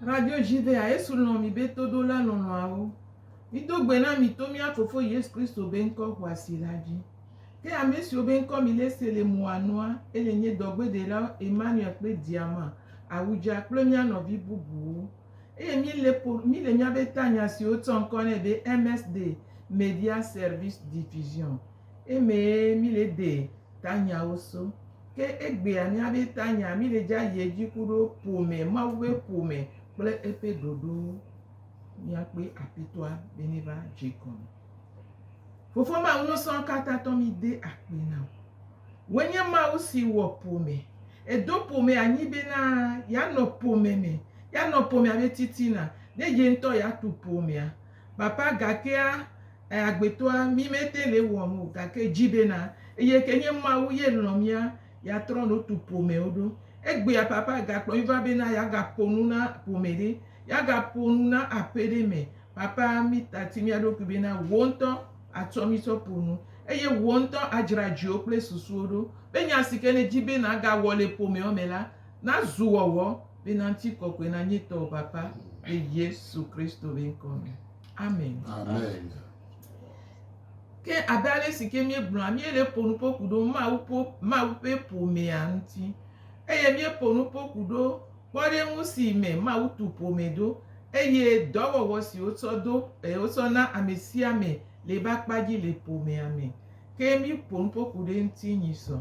Radio Jivea, Yesu lɔ̃ mi be todola lɔlɔ̃awo. Mido gbe na mi to mía Fofo Yesu Kristo be ŋkɔ xɔasi la dzi. Ke ame siwo be ŋkɔ mi le se le mua nua, ele nye dɔgbeɖelawo Emmanuel kple Diama, Awudja kple mía nɔvi bubuwo. eye míle ƒo míle mía be tanya si wotsɔ ŋkɔ nɛ be MSD, Media Service Division, emee míle de tanyawo so. Ke egbea mía be tanya míle dze ayi edzi ku ɖo ƒome, Mawu ƒe ƒome kple eƒe ɖoɖo mía kpɔe Apitɔa be míva dze egɔme. Fofo Mawu nusrɔ̃ ka tatɔ mí de akpe na wò. Wò nye Mawu si wɔ ƒome. Èdo ƒome anyi bena yeanɔ ƒome me, yeanɔ ƒomea me titina, ne ye ŋutɔ yeatu ƒomea. Papa, gakea, e, agbetɔa, mí mete le ewɔm o, gake èdi bena, eye ke nye Mawu ye lɔ̃ mía, yeatrɔ no tu ƒomewo ɖo. Egbea, Papa, gakplɔ mí va bena yeagaƒo nu na ƒome ɖe, yeagaƒo nu na aƒe ɖe me. Papa, mí tati mía ɖokui bena Wò ŋutɔ, atsɔ mi tsɔ ƒo nu, eye wò ŋutɔ adzra dziwò kple susuwò ɖo be nya si ke nèdi be nàgawɔ le ƒomeawo me la nazu wɔwɔ, bena ŋutikɔkɔe nanye tɔwò Papa, le Yesu Kristo ƒe ŋkɔ me. Amen. Amen. Ke abe ale si ke míegblɔa, míele ƒo nu ƒo ku ɖo Mawu ƒo, Mawu ƒe ƒomea ŋuti, eye míeƒo nu ƒo ku ɖo kpɔɖeŋu si me Mawu tu ƒome ɖo, eye dɔwɔwɔ si wotsɔ do eye wotsɔ na ame sia ame le eƒe akpa dzi le ƒomea me. Ke míƒo nu ƒo ku ɖe eŋuti nyuie sɔ.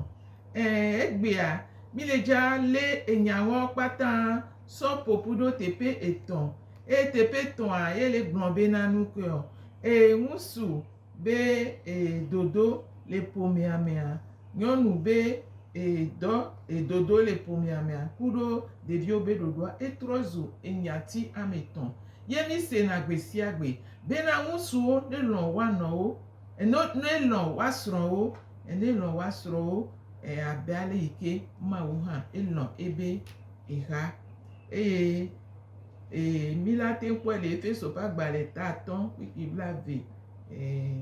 Ẽ, egbea, míle dzaa lé enyawoa kpata sɔ ƒo ƒu ɖo teƒe etɔ̃, eye teƒe etɔ̃a ye le gblɔm be na nukae? Ẽ, ŋusu. be ee dodo le ƒomea mea, nyɔnu be ee dɔ ee dodo le ƒomea mea kuɖo ɖeviwo be ɖoɖoa etrɔ zu enyati ame etɔ̃ ye mi sena gbe sia gbe bena ŋutsuwo ne lɔ̃ woa nɔwo eno ne lɔ̃ woa srɔ̃wo ene lɔ̃ woa srɔ̃wo e abe ale yi ke Mawu hã elɔ̃ ebe exa eye Ee, mí la te kpɔe le Efeso ƒe agbalẽ ta atɔ̃ kpikpi blaeve. Ee,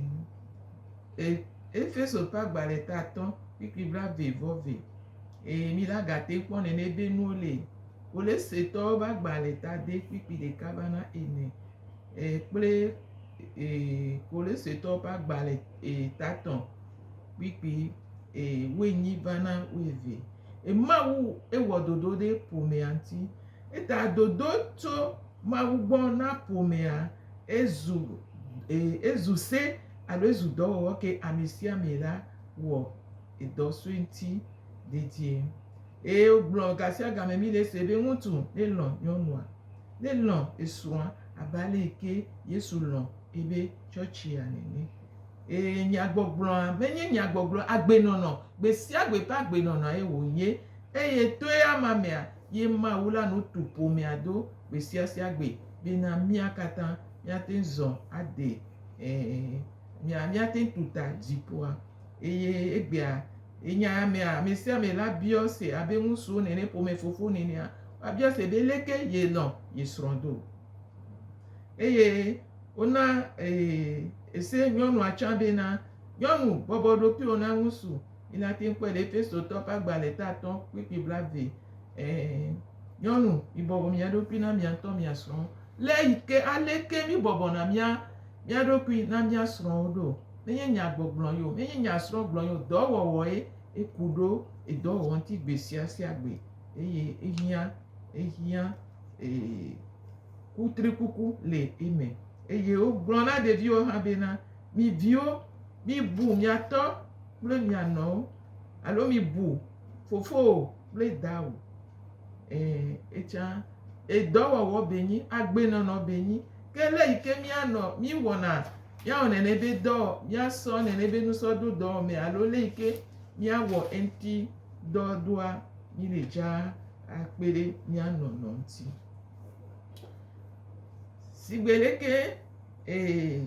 e, Efeso ƒe agbalẽ ta atɔ̃ kpikpi blaeve vɔ ve. Ee, mí la gate kpɔ nene be nuwo le wole setɔwo ƒe agbalẽ ta de kpikpi ɖeka va na ene. Ee, kple ee, wole setɔwo ƒe agbalẽ ee, ta tɔ̃ kpikpi ee, wonyi va na weve. Emawu ewɔ dodo ɖe ƒomea ŋuti. Eta dodo tso Mawu gbɔ na ƒomea ezu ezu se alo ezu dɔwɔwɔ ke amesiame la wɔ edɔ sue ŋuti dedie. Eye wogblɔ gasiagame mí le ese be ŋutsu ne lɔ̃ nyɔnua, ne lɔ̃ esrɔ̃a abe ale yi ke Yesu lɔ̃ ebe tsɔtsia nene. Eye nyagbɔgblɔa menye nyagbɔgblɔ agbenɔnɔ gbesiagbe ƒe agbenɔnɔe wònye eye toe ama mea ye Mawu la nu tu ƒomea do gbesiasia gbe bena mía katã míate ŋu zɔ ade ɛ̃, míate ŋu tu ta dziƒoa. Eye egbea, enya ya mea, amesiame la biɔ ese abe ŋutsuwo nene, ƒomefofo nenea, woabiɔ ese be leke yelɔ̃ ye srɔ̃ do. Eye wona ese nyɔnua tsã bena, Nyɔnu, bɔbɔ ɖokuiwò na ŋutsu. Minate ŋu kpɔe le Efesotɔwo ƒe agbalẽ ta atɔ̃ kpukpui blaeve. Ɛ̃, nyɔnu, mibɔbɔ mia ɖokui na mia ŋutɔ mia srɔ̃wo. Lé yi ke aleke míbɔbɔna mía mía ɖokui na mía srɔ̃wo ɖo. Menye nya gbɔgblɔ ye o, menye nya srɔ̃ gblɔ ye o, dɔwɔwɔe eku ɖo edɔwɔwɔ ŋuti gbe sia sia gbe eye ehiã ehiã e kutrikuku le eme. Eye wogblɔ na ɖeviwo hã bena, Mi viwo, mibu mia tɔ kple mia nɔwo, alo mibu fofowò kple dawò. E, etsã, edɔwɔwɔ be nyi, agbenɔnɔ be nyi. Ke le yi ke mianɔ, miwɔna, miawɔ nene be dɔ, miasɔ nene be nusɔ do dɔ me alo le yi ke miawɔ eŋti dɔ doa, mi le dza akpe ɖe mia nɔnɔ ŋti. Sigbe leke. Ee,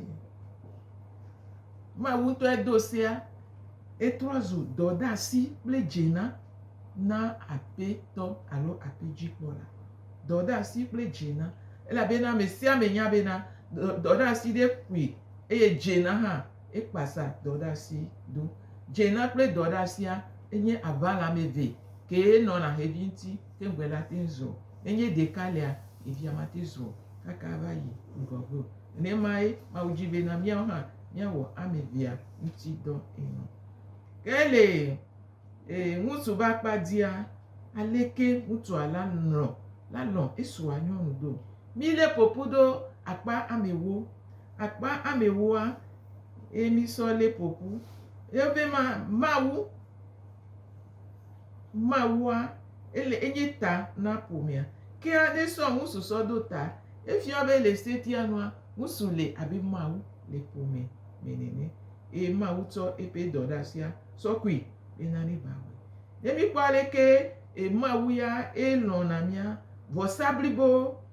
Mawu ŋutɔe do sea, etrɔ zu dɔdeasi kple dzena na aƒetɔ alo aƒedzikpɔla. Dɔdeasi kple dzena, elabena ame sia ame nya bena dɔdeasi ɖe ƒoe eye dzena hã ekpasa dɔdeasi do. Dzena kple dɔdeasia enye aʋala ame eve kee nɔna xevi ŋuti. Te gbe la te zɔ. Ne nye ɖeka lea, ɖevia mate zɔ kaka ava yi ŋgɔ go. Nenemae Mawu dzi be na míawo hã míawɔ ame evea ŋuti dɔ ene. Ke le ŋutsu ƒe akpa dzia, aleke ŋutsua la lɔ̃ la lɔ̃ esrɔ̃a nyɔnu do. Mi le ƒoƒu ɖo akpa ame ewo. Akpa ame ewoa ye mi sɔ le ƒoƒu. Ye be ma Mawu. Mawua, ele enye ta na ƒomea. Ke aɖe sɔ ŋusu sɔ ɖo ta. Efia be le setia nua, ŋusu le abe Mawu le ƒome me nene. Eye Mawu tsɔ eƒe dɔɖasia sɔ kui be na mi ba wɔe. Ne mi kpɔ aleke e Mawu ya e lɔ̃na mía vɔsa blibo.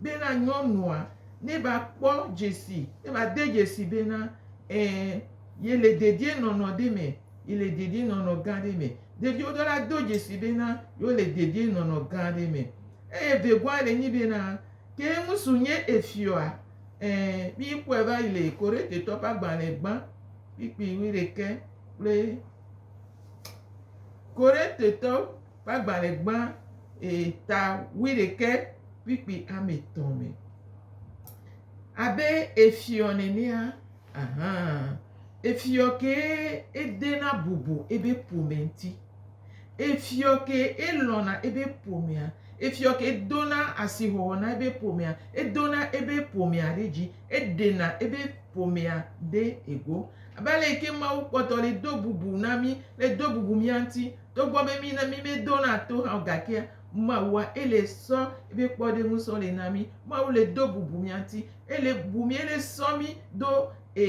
bena nyɔnua neva kpɔ dzesi, neva de dzesi bena ẽ yele dedienɔnɔ ɖe me, yele dedienɔnɔ gã ɖe me. Ɖeviwo ɖo la do dzesi bena yewole dedienɔnɔ gã ɖe me. Eye vegɔa le nyi bena, Ke ŋusu nye efiɔa? Ẽ, míkpɔe va yi le Korintetɔ ƒe agbalẽ gbã kpikpi wuiɖekɛ kple Korintetɔ. ƒe agbalẽ gbã ee ta wuiɖekɛ kpikpi ame etɔ̃ me. Abe efiɔ nenea, ahã, efiɔ kee edena bubu eƒe ƒome ŋuti. Efiɔ kee elɔ̃na eƒe ƒomea. Efiɔ kee edona asixɔxɔ na eƒe ƒomea. Edona eƒe ƒomea ɖe dzi. Eɖena eƒe ƒomea ɖe ego. Abe ale yi ke Mawu kpɔtɔ le do bubu na mí, le do bubu mía ŋuti Togbɔ be mí na mí mé dó na to hã o gakea Mawua ele sɔ ebe kpɔ ɖe ŋu sɔ le na mí. Mawu le dó bubu mía ŋti. Ele bu mí ele sɔ mí ɖo e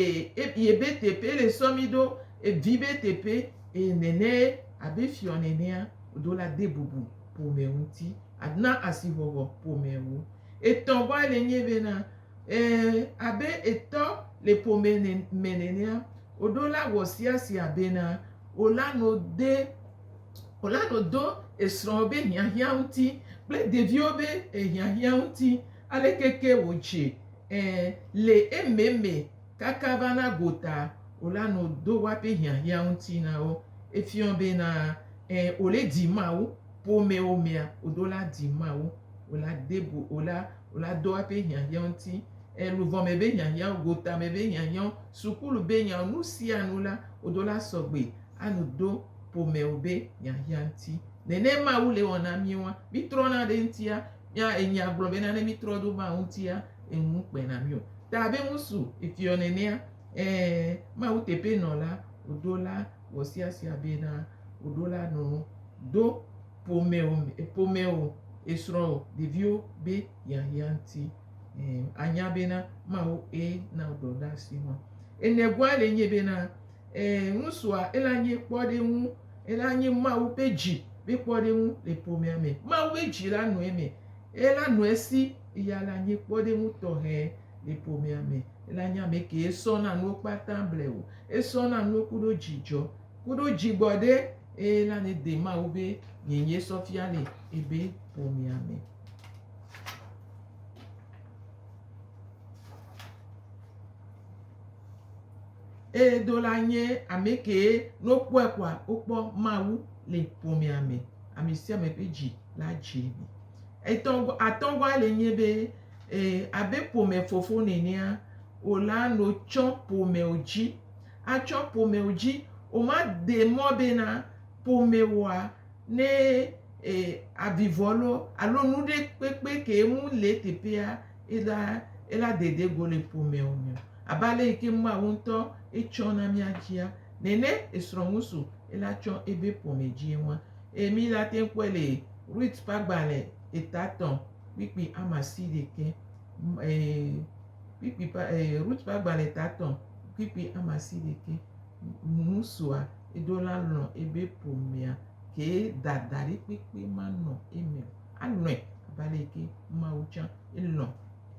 ye be teƒe ele sɔ mí ɖo e vi be teƒe e nene abe fiɔ nenea o ɖo la de bubu ƒome ŋti a na asihɔhɔ ƒome ŋu. Etɔ̃ gɔa ele nye be na. Ɛ̃, abe etɔ le ƒome ne me nenea, oɖo la wɔ sia sia bena ola no de, ola no do esrɔ̃wo be hiahiã ŋuti kple ɖeviwo be e hiahiã ŋuti. Aleke ke wòdze? Ɛ̃, le eme me kaka va na gota, ola no do woaƒe hiahiã ŋuti na wo. Efiɔ bena, ɛ̃, ole di Mawu. Ƒomewo mea, oɖo la di Mawu. Ola de bu, ola. la do aƒe hiahiã ŋuti, e luvɔ me be hiahiã, gota me be hiahiã, sukulu be nya, nu sia nu la, wo do la sɔgbe anu do ƒome wo be hiahiã ŋuti. Nene Mawu le wɔna mi woa, mi trɔ na ɖe ŋutia, mia enya gblɔ bena ne mi trɔ ɖo Mawu ŋutia, enu kpe na mi o. Ta be ŋusu efiɔ nenea, ẽ, Mawu teƒe nɔla, wo do la wɔ sia sia bena wo do la nu do. ƒomewo me, ƒomewo, esrɔ̃wò, ɖeviwo be hiahiã ŋuti. Ɛ̃, ànya bena Mawu ye na wò dɔ ɖe asi nɔa? Enegɔa le enye bena, ɛ̃, ŋutsua ela nye kpɔɖeŋu, ela nye Mawu ƒe dzi ƒe kpɔɖeŋu le ƒomea me. Mawu ƒe dzi la nɔ eme, ela nɔ esi, eya ela nye kpɔɖeŋu tɔxɛ le ƒomea me. Ela nye amɛ kee sɔna nuwo kpata ble wò. Esɔna nuwo kuɖo dzidzɔ. Kuɖo dzigbɔ ɖe eye la ne de ma wo be nye nye sɔ fia le ebe ƒomea me. Eye do la nye ame kee no kpɔe kɔa wo kpɔ ma wu le ƒomea me. Ame sia ame ƒe dzi la dzi. Etɔ atɔ gɔa le nye be eh, abe ƒome fofo nenea, o la no tsɔ ƒome o dzi. atsɔ ƒomeo dzi, womade mɔ be na ƒomewoa ne e avivɔ lo alo nu ɖe kpekpe ke ŋu le eteƒea ela ela dede go le ƒomeo me o. Abe ale yi ke Mawu ŋutɔ etsɔ na mía dzia nene esrɔ̃ ŋu so ela tsɔ ebe ƒome dzie ŋua. Eye mi la te kpɔe le Rut ƒe agbalẽ etatɔ̃ kpikpi amasiɖeke e. kpikpi ƒe e Rut ƒe agbalẽ ta etɔ̃ kpikpi ame asi ɖekɛ. Ŋusua eɖo la lɔ̃ ebe ƒomea kee dadaɖi kpekpe manɔ eme o. Alɔ̃e abe ale yi ke Mawu tsã elɔ̃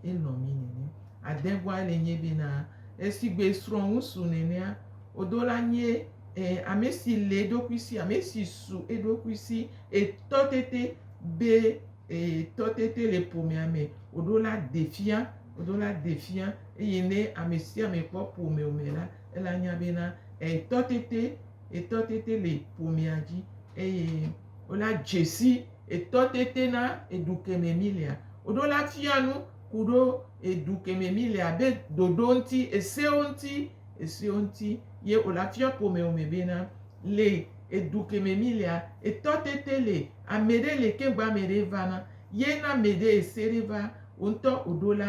elɔ̃ mí nene. Adẽgoa le nye be na esigbe esrɔ̃ ŋusu nenea oɖo la nye e ame si le eɖokui si ame si su eɖokui si etɔ tete be Eye tɔtete le ƒomea me, woɖo la de fia, woɖo la de fia eye ne ame sia ame kpɔ ƒomea me la, ele anya be na etɔtete, etɔtete le ƒomea dzi eye wola dze si etɔtete na edu keme mi lea. Woɖo la fia nu ku ɖo edu keme mi lea be ɖoɖo ŋuti, esewo ŋuti, esewo ŋuti ye wola fia ƒomea me be na. le edu keme mi lea, etɔ tete le ame ɖe le keŋ gbɔ ame ɖe va na ye na ame ɖe ese ɖe va wo ŋutɔ o ɖo la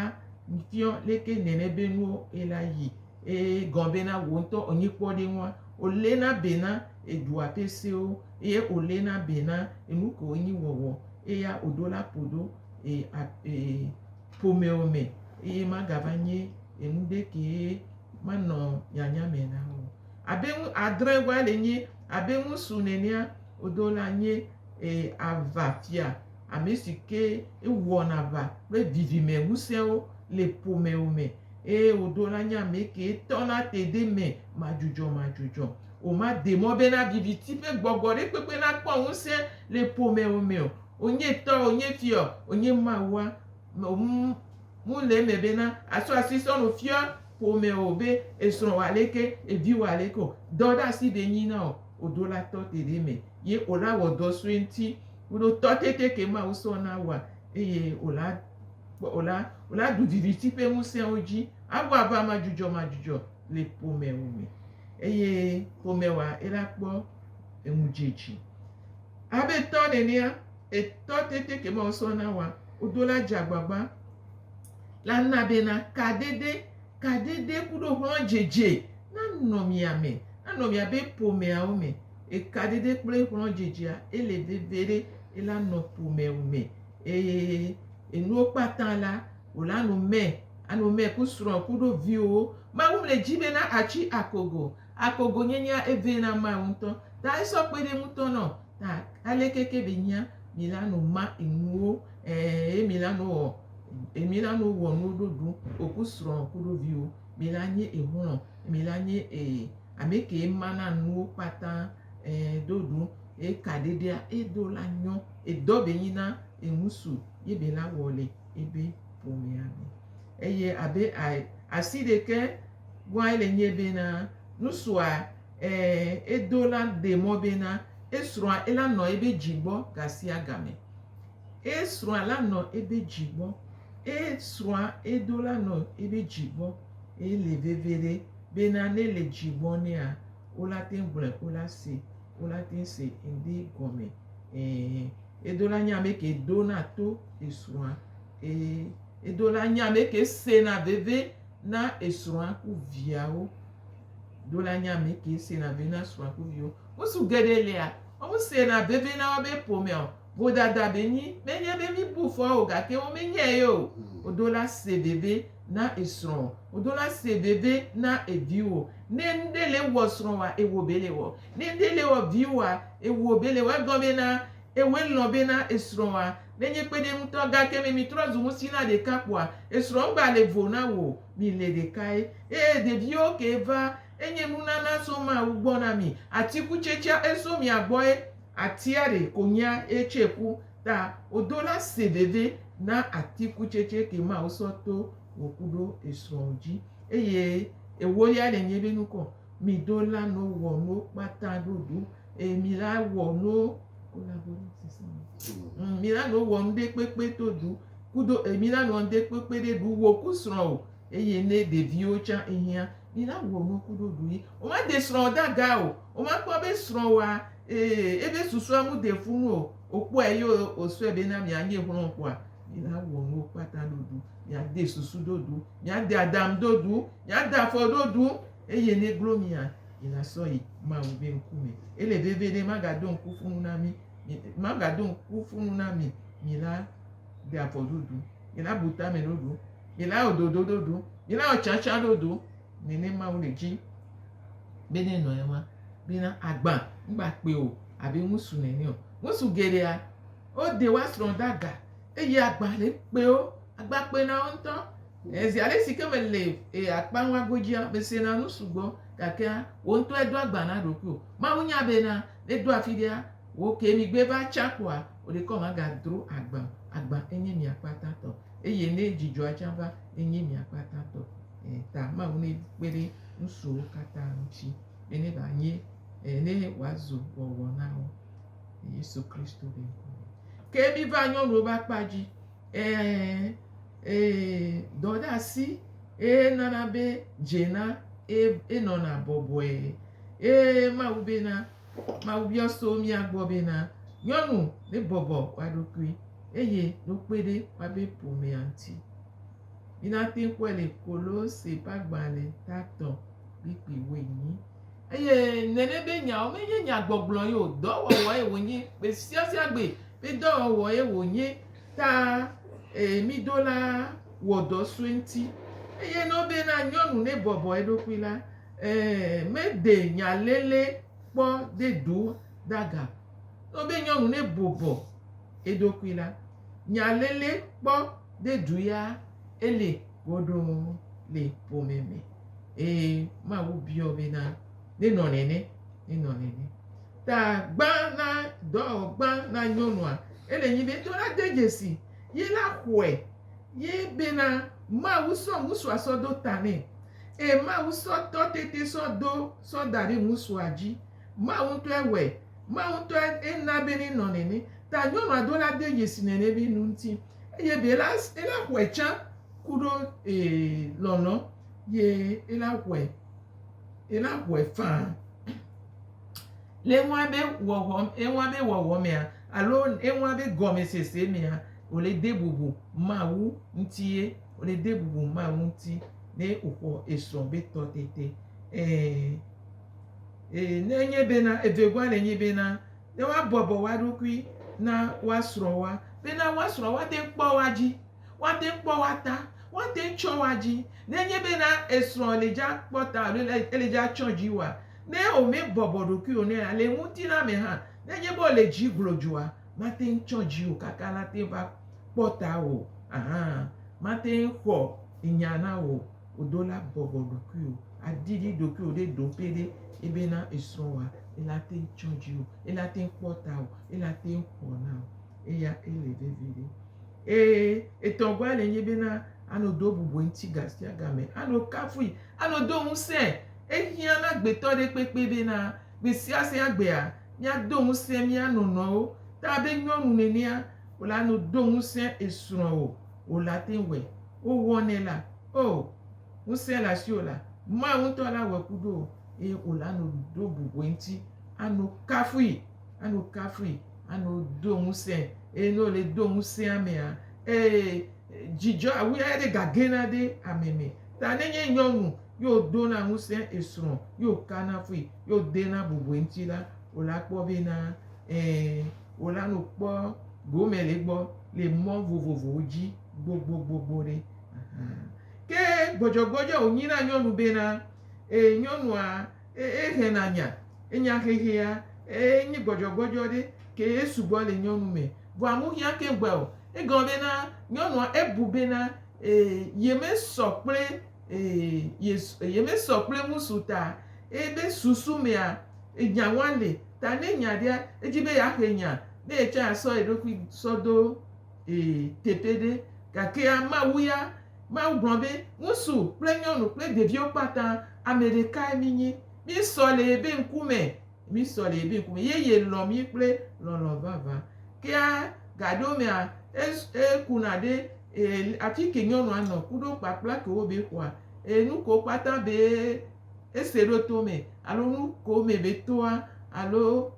ŋfiɔ leke nene be nuwo ela yi eye gɔn be na wo ŋutɔ o nyi kpɔ ɖe ŋua o le na be na edua ƒe sewo eye o le na be na enu kewo nyi wɔwɔ eya o ɖo la ƒo ɖo e a e ƒomewo me eye ma ga va nyi enu ɖe ke ma nɔ nyanya me na wo. Abe ŋu adre wa le nye, abe ŋu su nenea odo la nye e ava fia ame si ke ewɔn aʋa kple vivime ŋusẽwo le ƒomewo me eye odo la nye ame ke tɔ na te de me madzudzɔ madzudzɔ. O ma de mɔ be na viviti ƒe gbɔgbɔ ɖe kpekpe na kpɔ ŋusẽ le ƒomewo me o. O nye tɔ, o nye fiɔ, o nye Mawua, me ŋu ŋu le eme bena àtsɔ asi sɔ nu fia ƒomewò be esrɔ̃ wɔ aleke, evi wɔ aleke o. Dɔɖeasi ɖe nyi na wò odo la tɔ te ɖe eme ye wò la wɔ dɔ sue ŋuti kuɖo tɔ tete ke Mawu sɔ na wòa eye wò la kpɔ wò la wò la ɖu viviti ƒe ŋusẽwo dzi awɔ aʋa madzudzɔmadzudzɔ le ƒomewò me eye ƒomewòa ela kpɔ eŋudzedzi abe tɔ nenea. Etɔ tete ke ma wosɔ na wa odo la dza gbagba la na be na ka dede, ka dede kuɖo hlɔ̃ dzedze na nɔ mia me, na nɔ mia be ƒomea wo me. Eka dede kple hlɔ̃ dzedzea ele veve ɖe ela nɔ ƒomea wo me. Eye enuwo kpata la, wola nɔ mɛ, anɔ mɛ ku srɔ̃ kuɖo viwo. Mawu mle dzi be na atsi akogo Akɔ gonyenyea evee na Mawu ŋutɔ. Ta esɔ kpe ɖe ŋutɔ nɔ. Ta aleke ke be nyia mi la no ma enuwo ẽ ye mi la no wɔ ye mi la no wɔ nuwo ɖo ɖu oku srɔ kuɖo viwo. Mi la nye exlɔ mi la nye e ame ke ma na nuwo kpata ẽ ɖo ɖu ye ka ɖeɖea edo la nyɔ edɔ be nyi na eŋusu ye be la wɔ le. ebe ƒomea me. Eye abe asi ɖeke gbɔe le nye bena nusrɔ̃a e edo la ɖe mɔ bena esrɔ̃a ela nɔ ebe dzi gbɔ gasiagame. Esrɔ̃a la nɔ ebe dzi gbɔ. Esrɔ̃a edo la nɔ ebe dzi gbɔ. Eye le veve ɖe bena ne le dzi gbɔ nɛa wola te gblɔe wola se wola te se ŋdi gɔme. E. Edola nye ame ke dona to esrɔ̃a, eye edola nye ame ke sena veve na esrɔ̃a ku viawo. Dola nye ame ke sena veve na srɔ̃a ku viwo. Ŋutsu geɖe lia, wo sena veve na wobe ƒomea o. Vodada be nyi, menye be mi bu fɔ o, gake wo menyae ye o. Odola se veve na esrɔ̃ o. Odola se veve na eviwo. Ne nuɖe le wɔ srɔ̃ wa, ewo be le wɔ. Ne nuɖe le wɔ viwo wa, ewuo be le wɔ gɔme na ewɔe lɔ̃ be na esrɔ̃a nenye kpeɖeŋutɔ gake me mitrɔ zu ŋusi na ɖeka kpɔa esrɔ̃ ŋgba le vo na wò mi le ɖekae eye ɖeviwo ke va enye nunana so mawu gbɔ na mi atikutsetsea eso mia gbɔe atia ɖe konyea etsɛ ku ta odo la se veve na atikutsetse ke mawu sɔ to wò kuɖo esrɔ̃ dzi eye ewolia le nye be nukɔ. Mi ɖo la no wɔ no kpata ɖo ɖo. E mi la wɔ no mm, mi la no wɔ nu ɖe kpekpe to ɖu. Kudo e mi la no nu ɖe kpekpe ɖe ɖu wɔ ku srɔ̃ o. Eye ne ɖeviwo tsa ehia, mi la wɔ nu ku ɖo ɖu yi. O ma de srɔ̃ da ga o. O ma kpɔ be srɔ̃ wa ee ebe susua mu de fu nu o. O kpɔ e yo o sɔe be na mi a nye hlɔn kpɔa. Mi la wɔ nu kpata ɖo ɖu. Mi a de susu ɖo ɖu. Mi a de adam ɖo ɖu. Nya da afɔ ɖo ɖu, eye ne glo mia, yi nasɔ yi Mawu be ŋku me. Ele vevie ne magado ŋku fu nu na mi, magado ŋku fu nu na mi, mi la de afɔ ɖo ɖu, mi la bu tame ɖo ɖu, mi la wɔ dodo ɖo ɖu, mi la wɔ tsatsa ɖo ɖu, ne ne Mawu le dzi be ne nɔ ewa be na agba, ŋgba kpe o abe ŋusu nene o. Ŋusu geɖea, wo de wa srɔ̃ da ga, eye agba le kpe wo, agba kpe na wo ŋutɔ. Ezi alesike mele e akpa ŋua godzia, mesena nu sugbɔ, gakea wò ŋutɔe do agba na ɖokuiwò. Mawu nya bena ne do afiɖea wò kee migbe va tsã kpoa, wò ɖekɔ magadzro agba o. Agba enye mia kpata tɔ eye ne dzidzɔa tsã va, enye mia kpata tɔ. E ta Mawu ne kpe ɖe nusuwo katã ŋuti be ne va nye e ne wòazu wɔwɔ na wo. Yesu Kristo be ŋkɔ me. Ke miva nyɔnuwo be akpa dzi. Ɛ̃, dɔdeasi ye nana be dzena ye nɔna bɔbɔe. Ye Mawu bena, Mawu biɔ so mía gbɔ bena, Nyɔnu ne bɔbɔ wa ɖokui eye no kpe ɖe woabe ƒomea ŋuti. Mina te ŋu kpɔe le Kolose ƒe agbalẽ tatɔ kplikpli woenyi. Eye nene be nyawo menye nya gbɔgblɔ ye o, dɔ wɔwɔ ye wonye. Gbe sia sia gbe be dɔ wɔwɔ ye wonye ta ee mi do la wɔ dɔ sue ŋuti. Eye ne wobe na nyɔnu ne bɔbɔ eɖokui la, ee me ɖe nya lele kpɔ ɖe ɖo ɖa ga o. Ne wobe nyɔnu ne bɔbɔ eɖokui la, nya lele kpɔ ɖe ɖu ya ele goɖo le ƒome me. Eye Mawu biɔ be na nenɔ nene, nenɔ nene. Ta gbã na dɔ gbã na nyɔnua. Ele nyi be tɔna de dzesi ye la xɔe ye be na Mawu sɔ ŋusua sɔ do ta nɛ. Eye Mawu sɔ tɔ tete sɔ do sɔ da ɖe ŋusua dzi. Mawu ŋutɔe wɔe. Mawu ŋutɔe ena be nenɔ nene. Ta nyɔnua do la de dzesi nene be nu ŋuti. Eye be la, ela xɔe tsã. Kuɖo ye lɔlɔ ye ela hɔɛ ela hɔɛ faa. Le eŋua be wɔwɔ eŋua be wɔwɔ mea alo eŋua be gɔmesese mea wole de bubu Mawu ŋuti ye wole de bubu Mawu ŋuti ne woxɔ esrɔ̃ be tɔ tete e e ne enye bena evegɔa le nyi bena ne woabɔbɔ woaɖokui na woasrɔ̃ woa bena woasrɔ̃ woate ŋu kpɔ woa dzi. Woate ŋu kpɔ woa ta, woate ŋu tsyɔ woa dzi, ne enye be na esrɔ̃ le dza kpɔ ta alo ele ele dza tsyɔ dzi oa, ne womebɔbɔ ɖokui o nɛ la, le ŋutilã me hã, ne enye be wòle dzi glodzoa, mate ŋu tsyɔ dzi o kaka nate ŋu va kpɔ ta wò hã. Mate ŋu xɔ nya na wò o do la bɔbɔ ɖokui o, aɖiɖi ɖokuiwò ɖe ɖo ƒe ɖe ebe na esrɔ̃ wòa, ele ate ŋu tsyɔ dzi wò, ele ate ŋu kpɔ ta wò, ele ate ŋu xɔ na wò. Eya ele vevi ɖe. Ee, etɔ̃gɔe le nye bena ano do bubue ŋuti gasiagame, ano kafui, ano do ŋusẽ. Ehiã na gbetɔ ɖe kpekpe bena gbesiase agbea míado ŋusẽ mía nɔnɔewo ta abe nyɔnu nenea wòle ano do ŋusẽ esrɔ̃ o. Wòle ate ŋu wɔe. Wòwɔnɛ la. Oo, ŋusẽ le asiwò la, Mawu ŋutɔ la wɔe kuɖo wò, eye wòle ano do bubue ŋuti ano kafui. anu kafui, anu do ŋusẽ eye ne wòle do ŋusẽ amea, ee, dzidzɔ awu eya ɖe gagɛna ɖe ame me. Ta ne nye nyɔnu ye wòdona ŋusẽ esrɔ̃ ye wòkana fui ye wòdena bubu eŋuti la, wòla kpɔ bena, ɛ̃, wòle nu kpɔ gome le egbɔ le mɔ vovovowo dzi gbogbogbogbo ɖe. Ke gbɔdzɔgbɔdzɔe wònyi na nyɔnu bena, ee, nyɔnua, Eye xe nanya, enya xexea, eye enyi gbɔdzɔgbɔdzɔ ɖe, ke ye sugbɔ le nyɔnu me. Vɔa nu hiã keŋ gbɔe o. Egɔme bena, nyɔnua ebu bena ee, yemesɔ kple ee, ye, yemesɔ kple ŋusu ta. Eye be susu mea, enya ŋua le. Ta ne enya ɖea, edzi be yeaxe nya, ne ye tsã yeasɔ ye ɖokui sɔ do. Ee, teƒe ɖe. Gake Mawu ya, Mawu gblɔ be, Ŋutsu kple nyɔnu kple ɖeviwo kpata, ame ɖekae mínyi. Míesɔ le yebe ŋkume. Míesɔ le yebe ŋkume. Ye yelɔ̃ mí kple lɔlɔ̃ vavã. Kea gaɖeomea, e, ekuna ɖe, e, afi ke nyɔnua nɔ ku ɖo kpakpla ke wobe xɔa. E, nu kewo kpata be ese ɖo to me alo nu kewo me be toa alo.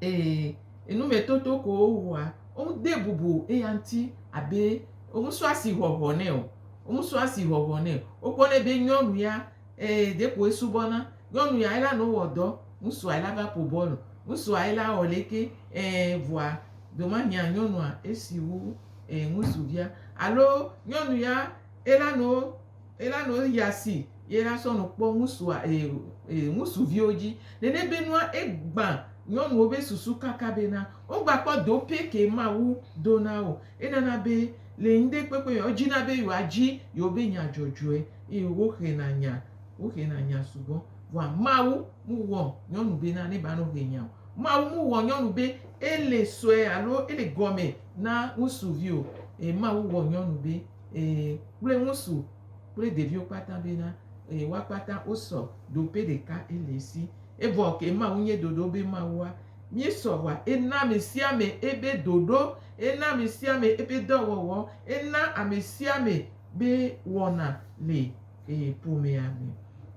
Ee, enumetoto ko wowɔa. Womedee bubu eya ŋuti abe womesɔ asihɔhɔ nɛ o. Womesɔ asihɔhɔ nɛ o. Wokpɔnɛ be nyɔnu ya, ee, ɖe ko esubɔna. Nyɔnu ya ela nɔ wɔ dɔ, ŋutsua ela va ƒo bɔl o. Ŋutsua ela wɔ leke, ee, vɔa, domanyea nyɔnua esi wu, ee, ŋutsuvia. Alo nyɔnu ya ela nɔ. Ela no eya si ye la sɔ no kpɔ ŋusua eye eye ŋusuviwo dzi. Nene be nua egbã nyɔnuwo be susu kaka be na wo gba kpɔ do pɛ ke Mawu do na wo. Enana be le ŋde kpekpe me wo dzi na be yewoa dzi yewo be nya dzɔdzɔe eye wo xe na nya wo xe na nya sugbɔ. Vɔa Mawu mu wɔ nyɔnu be na ne ba no xe nya o. Mawu mu wɔ nyɔnu be ele sɔe alo ele gɔme na ŋusuvi o. E Mawu wɔ nyɔnu be. Ee, kple ŋutsu kple ɖeviwo kpata bena, ee, woa kpata wosɔ ɖo ƒe ɖeka ele si. Evɔ ke Mawu nye ɖoɖo be Mawua, míesɔ wa ena amesiame ebe ɖoɖo, ena amesiame ebe dɔwɔwɔ, ena amesiame be wɔna le ee, ƒomea me.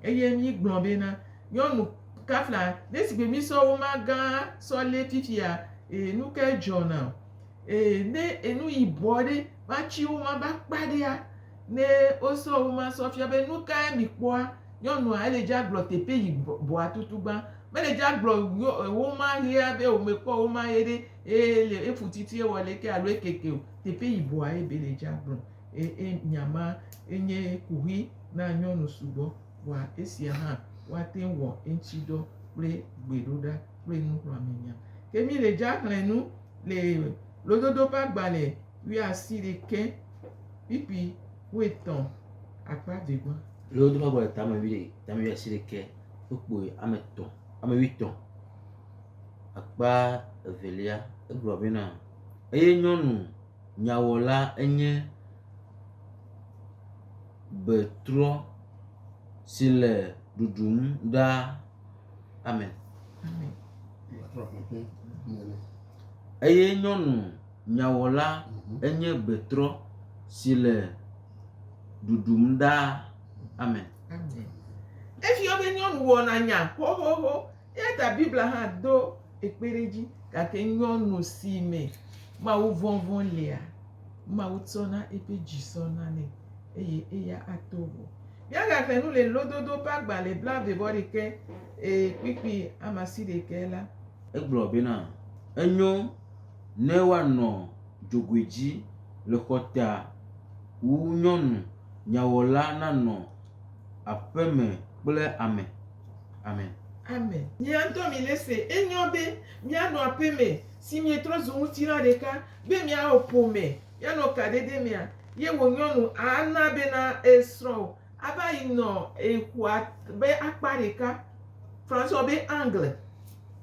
Eye míegblɔ bena, nyɔnu kafla, ne sigbe mísɔ wo ma gã sɔ lé fifia, ee, nukae dzɔna? Ee, ne enu yibɔ ɖe va tsi wo ma va kpa ɖea, ne wosɔ wo ma sɔ fia be, Nu kae mikpɔa? Nyɔnua ele dzi agblɔ teƒe yi bɔa tutugbã. Mele dzi agblɔ wo ma ɣea be wome kpɔ wo ma ɣe ɖe ele efu titi ewɔ leke alo ekeke o. Teƒe yi bɔa ebe le dzi agblɔ. E, e, nya ma enye kuxi na nyɔnu sugbɔ. Vɔa esia hã woate ŋu wɔ eŋtsi dɔ kple gbeɖoɖa kple nuxlɔamenya. Ke mi le dzi axlẽ nu. Le Lododo ƒe agbalẽ wuiasiɖekɛ, pp. Wuietɔ̃, akpa eve gbɔ. Lododo ƒe agbalẽ tame wuiasiɖekɛ, wokpoe ame etɔ̃, ame wuietɔ̃, akpa evelia, egblɔ bena, Eye nyɔnu nyawɔla enye betrɔ si le ɖuɖum ɖaa. Amen. Eye nyɔnu nyawɔla enye gbetrɔ si le ɖuɖum ɖaa. Amen. Efyɔ be nyɔnu wɔna nya xoxoxo eya ta Biblia hã do ekpe ɖe edzi gake nyɔnu si me Mawu vɔvɔ̃ lea, Mawu tsɔna eƒe dzi sɔna nɛ eye eya ato vɔ. Míagaxe nu le lododo ƒe agba le blaeve-vɔ-ɖekɛ e kpikpi amasiɖekɛ la. Egblɔ bena, Enyo ne woanɔ dzogoe dzi le xɔta wu nyɔnu nyawɔla nanɔ aƒe me kple ame. Amen. Amen. Mía ŋutɔ mílese enyo be míanɔ aƒe me si mietrɔ zu ŋutilã ɖeka be miawɔ ƒome. ye nɔ kaɖeɖe mea, ye wo nyɔnu a na be na e srɔ̃ o a va yi nɔ e xɔa be akpa ɖeka, François be angle,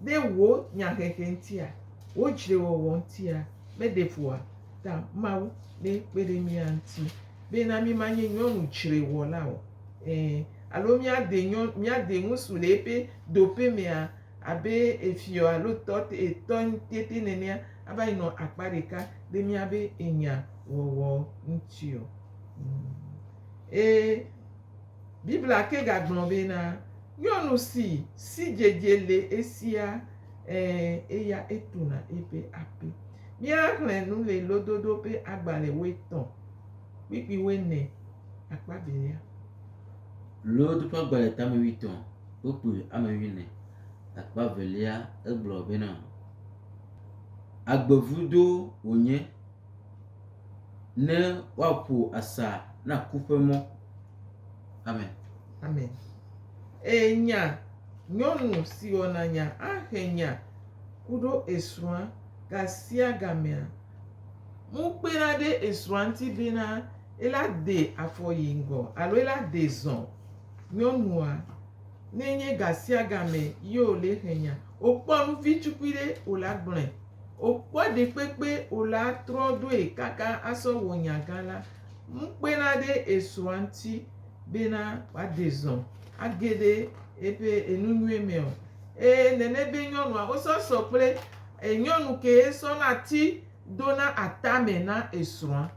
ɖe wo nya xexe ŋtia, wo dzre wɔwɔ ŋtia, me ɖe ƒoa ta Mawu be kpe ɖe mía ŋuti be na mí ma nye nyɔnu dzre wɔla o. Ẽ, alo mía de nyɔnu, mía de ŋusu le eƒe doƒe mea, abe efiɔ alo tɔ te etɔ tete nenea ava yi nɔ akpa ɖeka ɖe míabe enya wɔwɔ ŋuti o. Ee, Biblia ke gagblɔ bena, Nyɔnu si sidzedze le esia, ɛ̃, eya etuna eƒe aƒe. Míaxlẽ nu le Lododo ƒe agbalẽ wuietɔ̃ kpukpui wuiene akpa evelia. Lod ƒe agbalẽ tame wuietɔ̃ Wokplɔe yi ame nyui nɛ. Akpa evelia egblɔ bena, Agbevudo wònye ne woaƒo asa na ku ƒe mɔ. Amen. Amen. Eye nya, nyɔnu si wɔna nya axe nya ku ɖo esrɔ̃a gasiagamea, ŋu kpena ɖe esrɔ̃a ŋuti bena ela de afɔ yi ŋgɔ alo ela de zɔ. Nyɔnua, ne nye gasiagame ye wòle xe nya, wòkpɔ nu vi tukui ɖe, wòle agblɔe. Wòkpɔ ɖekpekpe, wòle atrɔ ɖoe kaka asɔ wɔ nya gã la. Ŋu kpena ɖe esrɔ̃a ŋuti bena wòade zɔ age ɖe eƒe enu nyui me o. Ee, nene be nyɔnua, wosɔ sɔ kple nyɔnu kee sɔna ti dona atame na esrɔ̃a.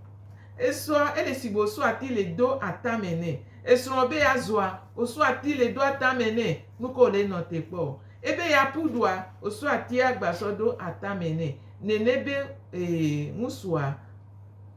Esɔa ele si gbe wosɔa ti le do atame nɛ. Esrɔ̃ be yeazɔa, wosɔa ti le do atame nɛ. Nu kae wòle nɔ te kpɔ? Ebe yeaƒu ɖua, wosɔa tia gba sɔ do atame nɛ. Nene be ee, ŋusua,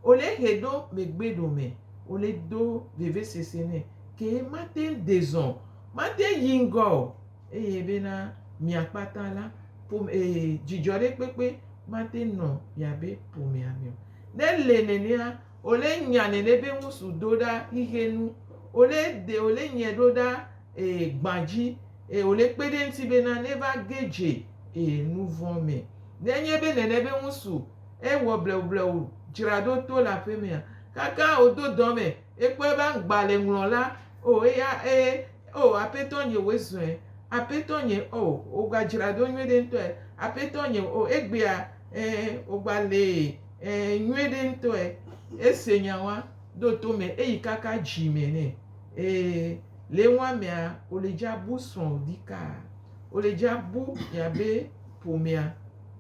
wole hɛ ɖo megbe ɖome, wole do vevesese nɛ. Ke mate ŋu de zɔ o. Mate ŋu yi ŋgɔ o. eye bena mia kpata la ƒome eye dzidzɔ ɖe kpekpe mate nɔ miabe ƒomea me o. Ne le nenea, ole nya nene be ŋusu do ɖa xixe nu, ole de ole nyɛ ɖo ɖa e gba dzi eye ole kpe ɖe ŋuti bena ne va ge dze e nuvɔ me. Ne nye be nene be ŋusu e wɔ blewublewu dzra ɖo to le aƒe mea, kaka o do dɔ me e kpɔe be aŋgba le ŋlɔ la o eya e Oh Aƒetɔ nye wòe zɔe, Aƒetɔ nye oh wògba dzra ɖo nyuie ɖe ŋutɔe, Aƒetɔ nye oh egbea eh wògba lee eh nyuie ɖe ŋutɔe. Ese nya wa, ɖo to me eyi kaka dzi me nɛ. Ee, le ŋua mea wòle dza bu srɔ̃ ɖikaa, wòle dza bu mia be ƒomea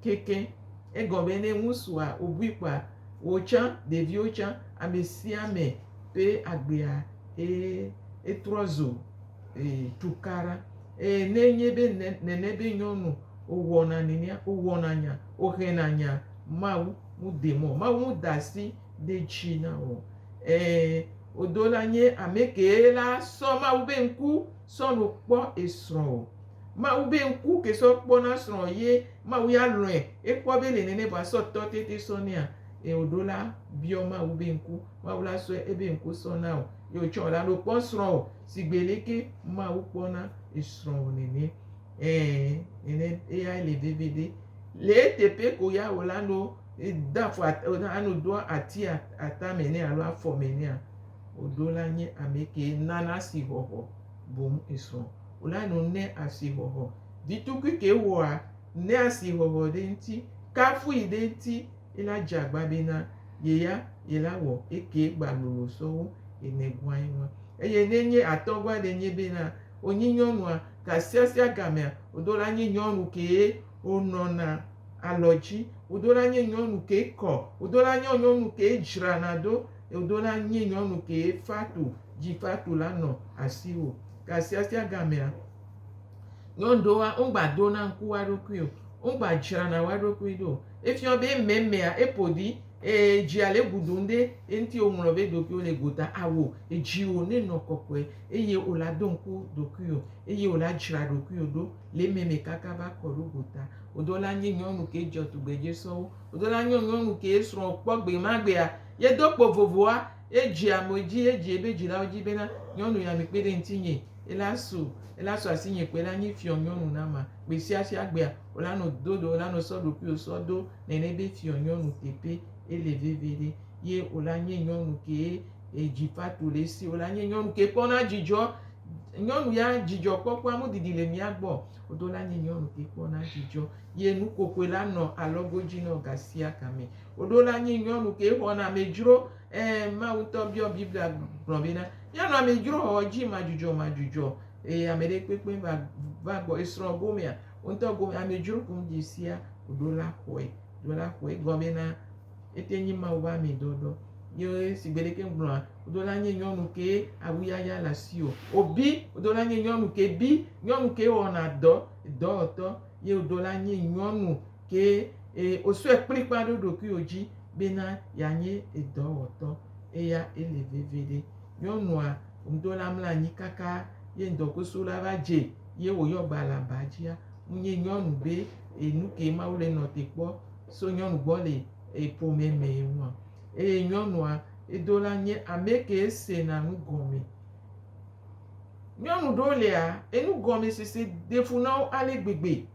keke. Egɔ be ne ŋusua wòbui kpɔa, wò tsã, ɖeviwo tsã, ame sia ame ƒe agbea. Eye etrɔ zo tukaɖa. Eye ne enye be nene be nyɔnu owɔna nenea, owɔna nya, ohena nya, Mawu mudee mɔ o. Mawu muda asi ɖe edzi na wò o. Ẽ, wodo la nye ame kee la sɔ Mawu be ŋku sɔ nɔ kpɔ esrɔ̃ o. Mawu be ŋku ke sɔ kpɔna srɔ̃ ye Mawu ya lɔ̃e. Ekpɔ be ele nene vɔ asɔ tɔ tete sɔ nɛa? Eye wòɖo la biɔ Mawu be ŋku. Mawu la sɔe ebe ŋku sɔ na wò. Eye wòtsɔ wò la ɖo kpɔ srɔ̃wò sigbe leke Mawu kpɔna esrɔ̃wò nene. Ɛ̃, nene eyae le veviɖe. Le eteƒe ko ya wò la, ne wode afɔ at, ne wodo ati atame nɛ alo afɔme nɛa, wòɖo la nye ame kee nana asixɔxɔ boŋ esrɔ̃ wò la no ne asixɔxɔ vi tukui ke wowɔa ne asixɔxɔ ɖe ŋuti kafui ɖe ŋuti ye la dze agba be na ye ya ye la wɔ ekee gba lolo sɔwo ye ne gua ye ŋua. Eye ne nye atɔgua ɖe nye be na wo nyi nyɔnua tasiasia gamea, wo do la nye nyɔnu kee wo nɔna alɔdzi, wo do la nye nyɔnu kee kɔ, wo do la nye nyɔnu kee dzrana do, ye wo do la nye nyɔnu kee fatu dzi fatu la nɔ asiwo tasiasia gamea. Nyɔnu ɖewo hã, womgba dona ŋku wo ɖokui o, womgba dzrana wo ɖokui ɖo o. Efiɔ be emɛmɛa, eƒo ɖi eye dzia le eŋu ɖum ɖe eŋuti woŋlɔ be ɖokuiwo le gota awu o. Dziwò nenɔ kɔkɔe eye wò la do ŋku ɖokuiwò eye wò la dzra ɖokuiwò ɖo le emɛmɛ kaka va kɔ ɖo gota. Wò ɖewo la nye nyɔnu ke dzɔ tugbedze sɔwu. Wò ɖewo la nye nyɔnu ke esrɔ̃ kpɔ gbemagbea, ye do kpo vovoa, Edzea ame dzi, edzea eƒe dzilawo dzi bena, Nyɔnu ya, mikpe ɖe ŋutinye, ela su, ela su asinye kpo, ela nyi fiɔnyɔnu na ma. Gbesiasia gbea, wola nɔ do ɖe wola nɔ sɔ ɖokuiwo sɔ do nɛnɛ be fiɔnyɔnu teƒe ele veve ɖe. Ye wola nye nyɔnu kee edzi va to le esi, wola nye nyɔnu ke kpɔna dzidzɔ. Nyɔnu ya dzidzɔ kpɔkpɔa mu didi le mía gbɔ o, wodo la nye nyɔnu ke kpɔna dzidzɔ. Ye nukokoe la nɔ alɔgo dzi nɔ gasiagame. Woɖo la nyi nyɔnu ke xɔna amedzro. Ẽ, Mawu ŋutɔ biɔ Biblia gblɔ bena, Míanɔ amedzro xɔxɔ dzi madzudzɔmadzudzɔ, eye ame ɖe kpekpe va va gbɔ esrɔ̃ gomea. Wo ŋutɔ gome amedzro ko ŋdzi sia woɖo la xɔe. Ɖo la xɔe egɔmee na ete nyi Mawu ƒe ame dɔdɔ. Ye si gbe ɖeke ŋgblɔa, woɖo la nyi nyɔnu ke awu yaya le asi o. Wobi, woɖo la nyi nyɔnu ke bi, nyɔnu ke wɔna dɔ, dɔwɔtɔ, ye woɖo la nyi nyɔnu. ke e, wòsɔe kplikpaa ɖo ɖokuiwò dzi bena yeanye edɔwɔtɔ. Eya ele veviɖe. Nyɔnua ŋdo la mla anyi kaka ye ŋdɔkusu la va dze ye wòyɔ gba le aba dzia, ŋunye nyɔnu be e, nukee Mawu le nɔ te kpɔ so nyɔnu gbɔ le e, ƒome me ŋua? Eye nyɔnua edo la nye amekee sena nu gɔme. Nyɔnu ɖewo lia, enugɔmesese ɖe fu na wo ale gbegbe.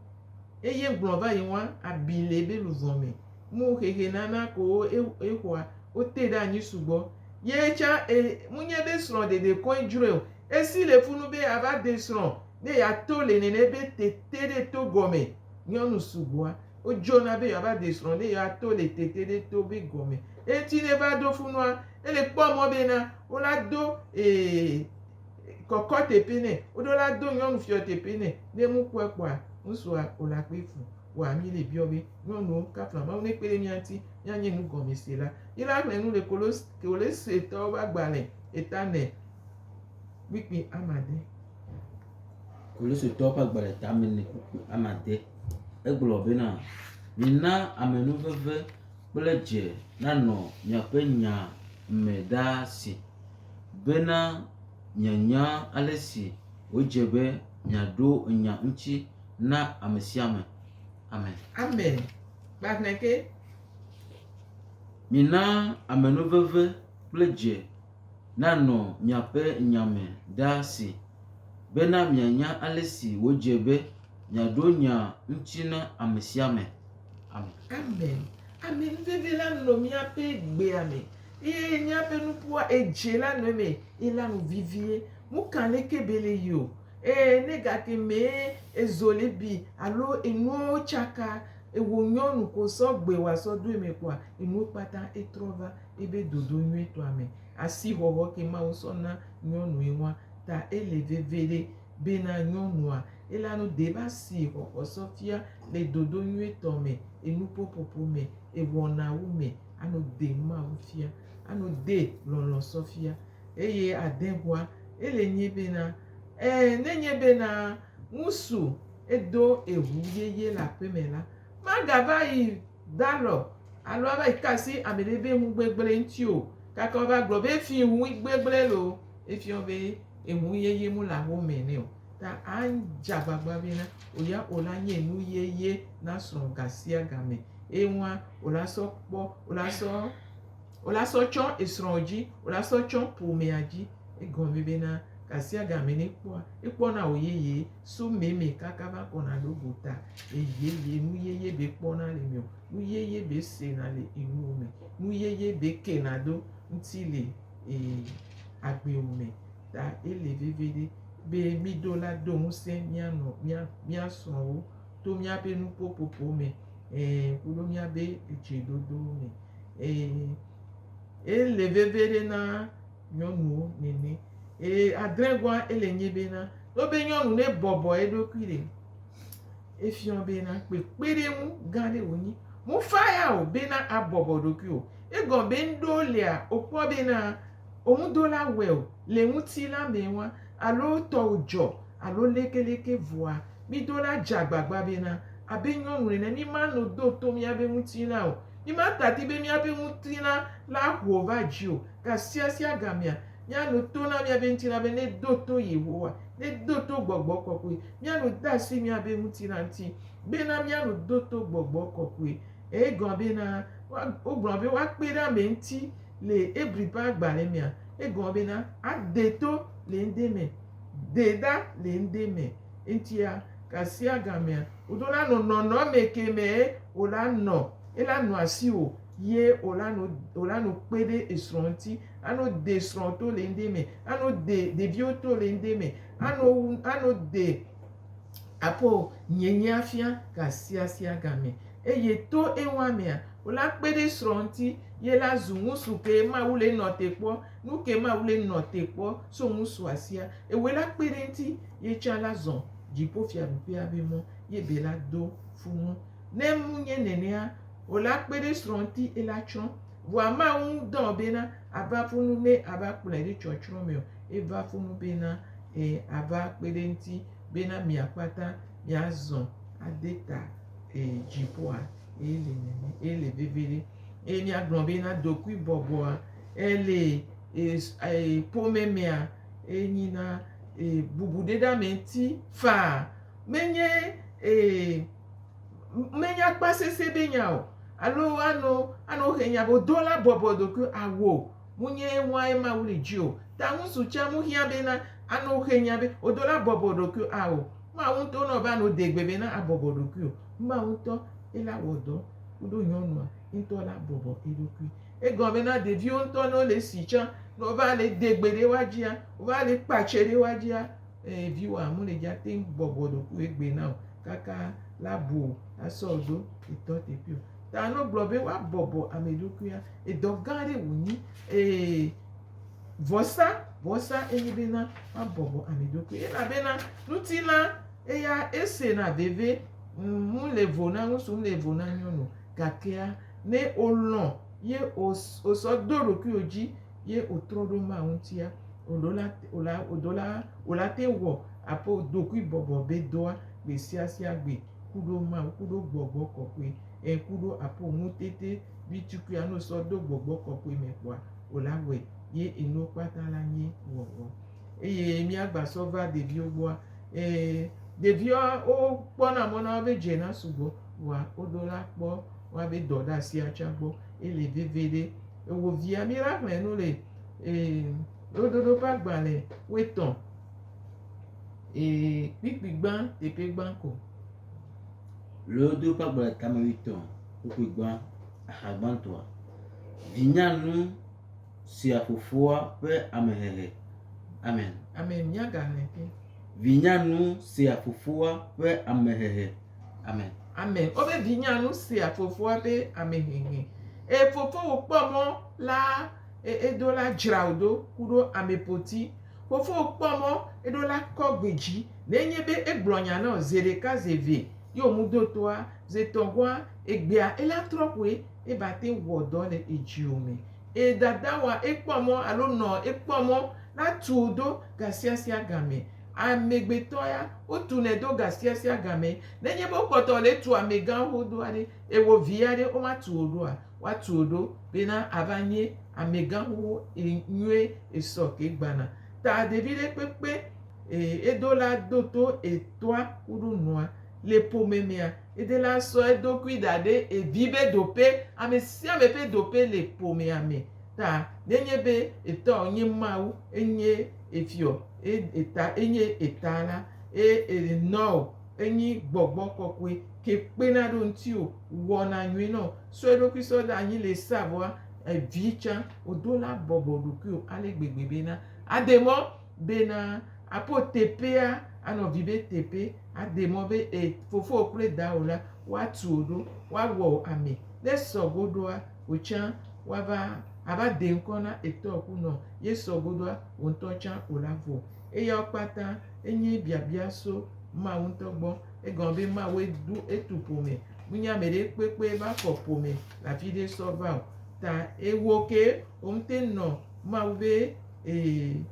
Eye gblɔ va yi ŋua abi le ebe luvɔ me. Mu xexe nana ko wo e exɔa wo te ɖe anyi sugbɔ. Ye tsã e mu nye be srɔ̃ ɖeɖe koe dzroe o. Esi le funu be ya va de srɔ̃ ne ya to le nene be te te ɖe to gɔme. Nyɔnu sugbɔa wo dzona be ya va de srɔ̃ ne ya to le te te ɖe to be gɔme. Eye ŋuti ne va ɖo funua ele kpɔ mɔ be na wo la do e. kɔkɔ teƒe nɛ. Woɖo la do nyɔnu fiɔ teƒe nɛ. Ne ŋu kɔe kpɔa, ŋutsua o la kpe fu. Wa mi le biɔ be, nyɔnuwo, kafla Mawu ne kpe ɖe mía ŋuti mía nye nu gɔme se la. Yi la ŋlɛ nu le Kolos, Kolositɔwo be agbalẽ eta me kpikpi amade. Kolositɔwo ƒe agbalẽ eta me ne kpikpi amade. Egblɔ be na, mina amenuveve kple dze nanɔ miaƒe nya me ɖaa si. bena mianya ale si wòdze be miaɖo nya ŋuti na ame sia ame. Amen. Amen. Gbalẽ ke. Mina amenuveve kple dze nanɔ miaƒe nya me ɖa si bena mianya ale si wòdze be miaɖo nya ŋuti na ame sia ame. Amen. Ami nuvivi la nɔ míaƒe gbea me eye míaƒe nuƒoa edze la nɔ eme ye la nu vivie. Nu ka leke be le yi o ee ne gake mee ezo le bi alo enuwo tsaka ewɔ nyɔnu ko sɔgbe woasɔ do eme koa enuwo kpata etrɔ va ebe dodo nyuitɔa me. Asixɔxɔ ke Mawu sɔ na nyɔnue ŋua ta ele vevi ɖe. bena nyɔnua elanu deba si xɔxɔ sɔfia le dodo nyuitɔ me, enupopopo me, ewɔnawo me ano de Mawu fia, ano de lɔlɔ sɔfia. Eye ade hua ele nyi bena, e nenye bena ŋusu edo eŋu yeye le aƒeme la, maga va yi dalɔ alo ava yi kasi ameɖe be ŋugbegble ŋti o, gake wava gblɔ be efi ŋuigbegble loo, efiɔ be. enu yeye mu le amewo mɛ nɛ o. Ta adze agbagba be na wò ya wò la nye enu yeye na srɔ̃wò gasiagamɛ. Eye ŋua wò la sɔ kpɔ, wò la sɔ, wò la sɔ tsɔ esrɔ̃wò dzi, wò la sɔ tsɔ ƒomea dzi. Egɔme be na gasiagamɛ ne ekpɔa, ekpɔna wò yeye so mɛ mɛ kaka va kɔna ɖo gota. Eye ye nu yeye be kpɔna le mɛɔ, nu yeye be sena le enuwo me, nu yeye be kena do ŋuti le. agbewo me ta ele veviɖe be mído la do ŋusẽ mía nɔ mía mía srɔ̃wo to míaƒe nuƒoƒoƒo me kple míaƒe dzeɖoɖo me eye ele veviɖe na nyɔnuwo nene eye adregoa ele nye be na togbɔ be nyɔnu ne bɔbɔ eɖokui ɖe. Efiɔ bena kpekpeɖeŋu gã ɖe wònyi. Mufa ya o bena abɔbɔ ɖokui o. Egɔme be ŋɖo lea wòkpɔ bena womudola wɛ o le ŋutilã me ŋua alo tɔwò dzɔ alo lekeleke vɔa, midola dze agbagba bena abe nyɔnu ene mimano do to miabe ŋutilã o. Mimatadi be miabe ŋutilã la ho va dzi o gasiasiagamea Míano to na míaƒe ŋutilã be nedo to Yehowa, nedo to gbɔgbɔ kɔkɔe. Míano de asi míaƒe ŋutilã ŋuti bena míano do to gbɔgbɔ kɔkɔe. Egɔ̃a bena, wogblɔ be woakpe ɖe ame ŋuti le Hebri ƒe agbalẽ mea, egɔ̃a bena ade to le ŋɖe me, de ɖa le ŋɖe me. Eŋutia, gasiagamea, wò ɖo la nɔ nɔnɔme ke me wòla nɔ, ela nɔ asiwò ye wòla nɔ, wòla nɔ kpe ɖe esrɔ̃ ŋuti. ano de srɔ̃ to le ŋde me, ano de ɖeviwo to le ŋde me, ano wu, ano de aƒo nyenye afia gasiasia game. Eye to ewa mea, wola kpe ɖe srɔ̃ ŋuti ye la zu ŋusu ke Mawu le nɔ te kpɔ, nu ke Mawu le nɔ te kpɔ so ŋusua sia. Ewoe la kpe ɖe ŋuti ye tsã la zɔ dziƒofiaɖuƒea be mɔ ye be la do fu nu. Ne mu nye nenea o la kpe ɖe srɔ̃ ŋuti ela tsrɔ̃. Vɔa mawu ŋu dɔn o bena ava ƒu nu ne ava kplɔe ɖe tsɔtsrɔ̃ me o. Eva ƒu nu bena e ava kpe ɖe eŋuti bena mia kpata mia zɔ ade ta e dziƒoa. Eye le nene eye le veve ɖe. Eye mia gblɔ bena dokui bɔbɔa e le e e ƒome mea e nyi na e bubu ɖe ɖa me ŋuti faa. Menye e. Menya kpa sese be nya o, alo ano ano he nya bo do la bɔbɔ doku awo mu nye ewa e Mawu li ji o. Ta ŋu su ca mu hia be na ano he nya be o do la bɔbɔ doku awo. Mawu ŋtɔ nɔ be ano de gbe be na abɔbɔ dokui o. Mawu ŋtɔ e la wɔ dɔ kudo nyɔnua ŋtɔ la bɔbɔ eɖokui. Egɔ be na ɖeviwo ŋtɔ no le si ca no va le de gbe ɖe wa jia, wo va le kpa ce ɖe wa jia, Eye viwòa mele dza teŋ bɔbɔ ɖokui egbɛ na o kaka la bu o asɔ ɖo etɔ teƒe o. Ta ne wogblɔ be woa bɔbɔ ame ɖokuia, edɔ gã aɖe wò nyi. Eye vɔsa, vɔsa enye be na woa bɔbɔ ame ɖokui. Elabena ŋutilã eya ese na veve, ŋu le vo na ŋutsu, ŋu le vo na nyɔnu. Gakea ne olɔ̃ ye osɔ do ɖokuiwò dzi. ye o trɔ ɖo ma ŋutia, o ɖo la, o la, o ɖo la, o la te wɔ aƒe o ɖokui bɔbɔ be dɔa gbe sia sia gbe ku ɖo ma ŋu ku ɖo gbɔgbɔ kɔkɔe ɛ ku ɖo aƒe o ŋu tete bi tukuia no sɔ ɖo gbɔgbɔ kɔkɔe me kpɔa o la wɔe ye enuwo kpata la nye wɔwɔ. Eye mía gba sɔ va ɖeviwo gbɔa, ɛ, ɖeviwo o kpɔ na mɔ na wo be dze na sugbɔ, vɔa o ɖo la kpɔ woa be dɔ ɖe asia tsa gbɔ, ele veve ɖe. Ewò via mí la xlẽ nu le ee lododo ƒe agbalẽ woetɔ ee kpikpi gbã teƒe gbã ko. Lododo ƒe agbalẽ tame woetɔ kpikpi gbã axa gbãtɔa. Vinyanu sia fofoa ƒe amehehe. Amen. Amen. Mía ga xlẽ ke. Vinyanu sia fofoa ƒe amehehe. Amen. Amen. Wobe vinya nu sia fofoa be ame hehe. Eye fofowò kpɔ mɔ la eɖo la dzra wò ɖo ku ɖo ame poti. Fofowò kpɔ mɔ eɖo la kɔ gbe dzi. Ne enye be egblɔ nya na wò ze ɖeka, ze eve ye wò mu do toa, ze etɔ̃ goa, egbea ela trɔ ƒoe eva te wɔ dɔ le edziwò me. Eye dadawa ekpɔ mɔ alo nɔ ekpɔ mɔ la tu wò ɖo gasiasia game. Amegbetɔ ya, wotunɛ do gasiasia game. Nenye be wokpɔtɔ le tu amegã xoxo aɖe, eye wò vi aɖe womatu wò ɖoa, woatu wò ɖo bena ava nye amegã xoxo yi nyuie esɔ ke gbana. Ta ɖevi ɖe kpekpe edo la do to etɔa kuɖo nua. Le ƒome mea, ede la sɔ eɖokui da ɖe evi be dope. Ame sia ame ƒe dope le ƒomea me. Ta nenye be etɔa wònye Mawu, enye. Efiɔ e eta enye eta la eye enɔo enyi gbɔgbɔ kɔkɔe ke kpena ɖo ŋtiwo wɔna nyuie nɔ sɔ eɖokui sɔ ɖe anyi le sa vɔa evi tsa odo la bɔbɔ ɖokuio ale gbegbe be na ade mɔ be na apo tepea anɔ vi be tepe ade mɔ be e fofowo kple dawo la wa tuo ɖo wa wɔo ame ne sɔ goɖoa. wò tsã woava ava de ŋkɔ na etɔ ku nɔ yesɔ godoa wò ŋtɔ tsã o la vɔ. Eyawo kpata enye biabia so Mawu ŋtɔ gbɔ. Egɔme be Mawue ɖo etu ƒome. Menye ameɖe kpekpe va xɔ ƒome le afiɖe sɔ va o. Ta ewò ke wò ŋte nɔ Mawu be ee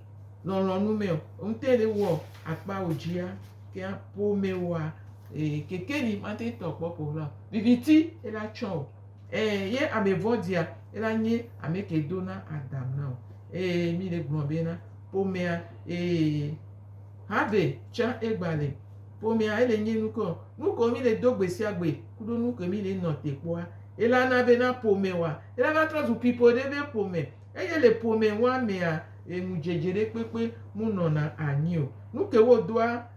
lɔlɔnu me o. Wò ŋte le wɔ akpa wò dzia kea ƒome woa ee kekeli mate tɔ kpɔ ƒo la o. Viviti ela tsɔ o. Ẽ, ye ame vɔ̃ɖia ela nye ame ke do na Adam na o. Ẽ, mi le gblɔa be na ƒomea, ẽ, Harvey tsã egba le ƒomea, ele nye nu ke o. Nu ke mi le do gbe sia gbe kuɖo nu ke mi le nɔ te kpɔa, ela na be na ƒome wa, ela na trɔ zu pipo ɖe be ƒome. Eye le ƒome wa mea, ẽ, ŋudzedze ɖe kpekpe mu nɔna anyi o. Nu ke wo doa.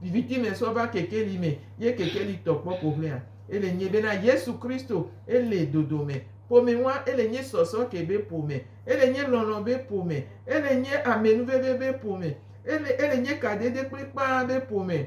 Viviti me sɔ va kekeli me ye kekeli tɔ kpɔ ƒoʋlɛa. Ele nyɛ be na Yesu Kristo ele dodome. Ƒome ŋua ele nyɛ sɔsɔ ke be ƒome. Ele nyɛ lɔlɔ be ƒome. Ele nyɛ amɛnuveve be ƒome. Ele ele nyɛ kadede kplikpaa be ƒome.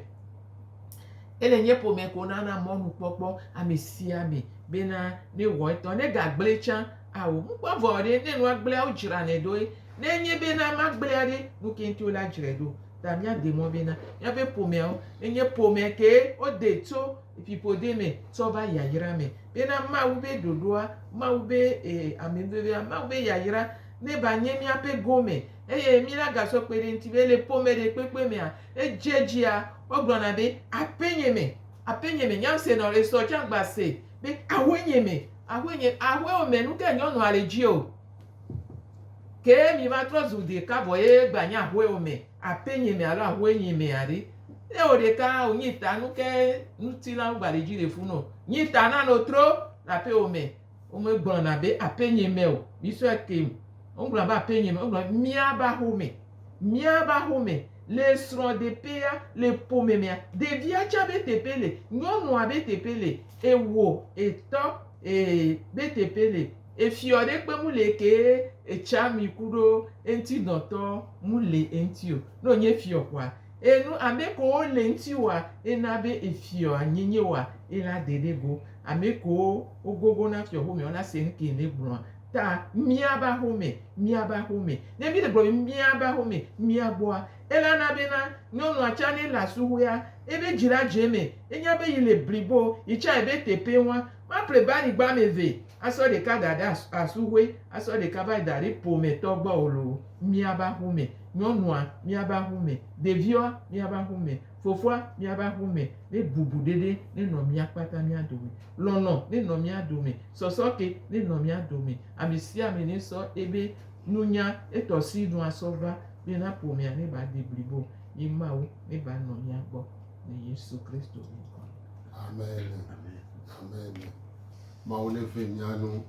Ele nyɛ ƒome ko nana mɔnu kpɔkpɔ ame sia ame be na ne wɔ etɔ. Ne ga gblɛ tsã ao. Ŋkpɔ avɔ ɖe ne nua gblɛa wo dzra nɛ ɖoe. Ne enye be na ma gblɛa ɖe nuke ŋti wo la dzrae ɖo. ta míade mɔ be na míaƒe ƒomeawo enye ƒomea kee wode tso fiƒode me tsɔ va yayra me. Bena Mawu ƒe ɖoɖoa, Mawu ƒe amenuvevea, Mawu ƒe yayra neva nye míaƒe gome eye mínagasɔ kpe ɖe eŋuti be le ƒome ɖekpekpe mea, edze edzia, wogblɔna be aƒenye me, aƒenye me. Nya ŋusẽ nɔ esɔ tsã gbase be aƒenye me, aƒenye, aƒewo me nukae nyɔnua le dzi o. Ke mi va trɔ zu ɖeka vɔ ye gba nyi aƒe o mɛ, aƒe nyi mɛ alo aƒe nyi mɛ aɖe. Ne wo ɖeka o nyi ta nu ke ŋuti la wo gba ɖe dzi ɖe fu no. Nyi ta na no tro le aƒe o mɛ. Wo me gblɔ na be aƒe nyi mɛ o. Mi sɔe ke me. Wo gblɔ be aƒe nyi mɛ. Wo gblɔ be mia ba xo mɛ. Mia ba xo mɛ le srɔ de ƒe ya le ƒo mɛ mɛa, ɖevia tsa be te ƒe le, nyɔnua be te ƒe le, ewo, etɔ, e, be te ƒe le. Efiɔ ɖe kpe mu le ke eca mi kuɖo eŋti dɔtɔ mu le eŋti o. Ne o nye fiɔ kɔa, e nu ame kewo le eŋti wa e na be efiɔ a nye nye wa e la de ɖe go. Ame kewo o gogo na fiɔ xomea o la se nu ke le gblɔa. Ta mia ba xome, mia ba xome. Ne mi le gblɔ be mia ba xome, mia gbɔa, e la na be na nyɔnua can ne le asuxuea, ebe dzi la dze eme, e nya be yi le blibo, yi can ebe tepe ŋua, ma ple bani gba ame ve. Asɔ ɖeka da ɖe asuhoe, asɔ ɖeka va yi da ɖe ƒometɔ gbɔ o loo, míava aƒu me, nyɔnua, míava aƒu me, ɖeviawo, míava aƒu me, fofoa, míava aƒu me, ne bubuɖeɖe nenɔ mía kpata mía dome, lɔlɔ̃ nenɔ mía dome, sɔsɔke nenɔ mía dome, ame sia ame nesɔ ebe nunya, etɔ si nu asɔ va bena ƒomea neva de blibo o. Yi Mawu neva nɔ mía gbɔ le Yesu Kristo ŋkɔ me. Amen. Amen. Mawu neve mía nu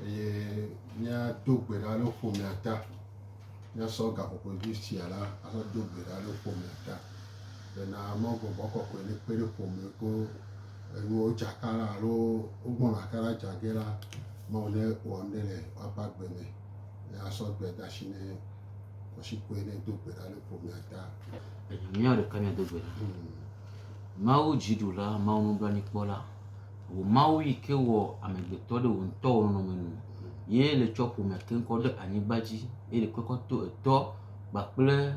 eye míado gbe ɖa ɖe ƒomea ta. Míasɔ gaƒoƒodui sia la asɔ do gbe ɖa ɖe ƒomea ta. Bena Mawu gbɔgbɔ kɔkɔe nekpe ɖe ƒome ko enuwo dzaka la alo wogbɔna aka la dza ge la, Mawu ne wɔ nu ɖe le woaƒe agbe me. Asɔ gbe da si ne kɔsikɔe ne do gbe ɖa ɖe ƒomea ta. Mía ɖeka míado gbe ɖa. Mawu dziɖula, Mawu nublanuikpɔla. Wò Mawu yi ke wɔ amegbetɔ ɖe wò ŋutɔ wò nɔnɔme nu, ye le tsɔ ƒome keŋkɔ ɖe anyigba dzi, ye le kpekɔ to etɔ kpakple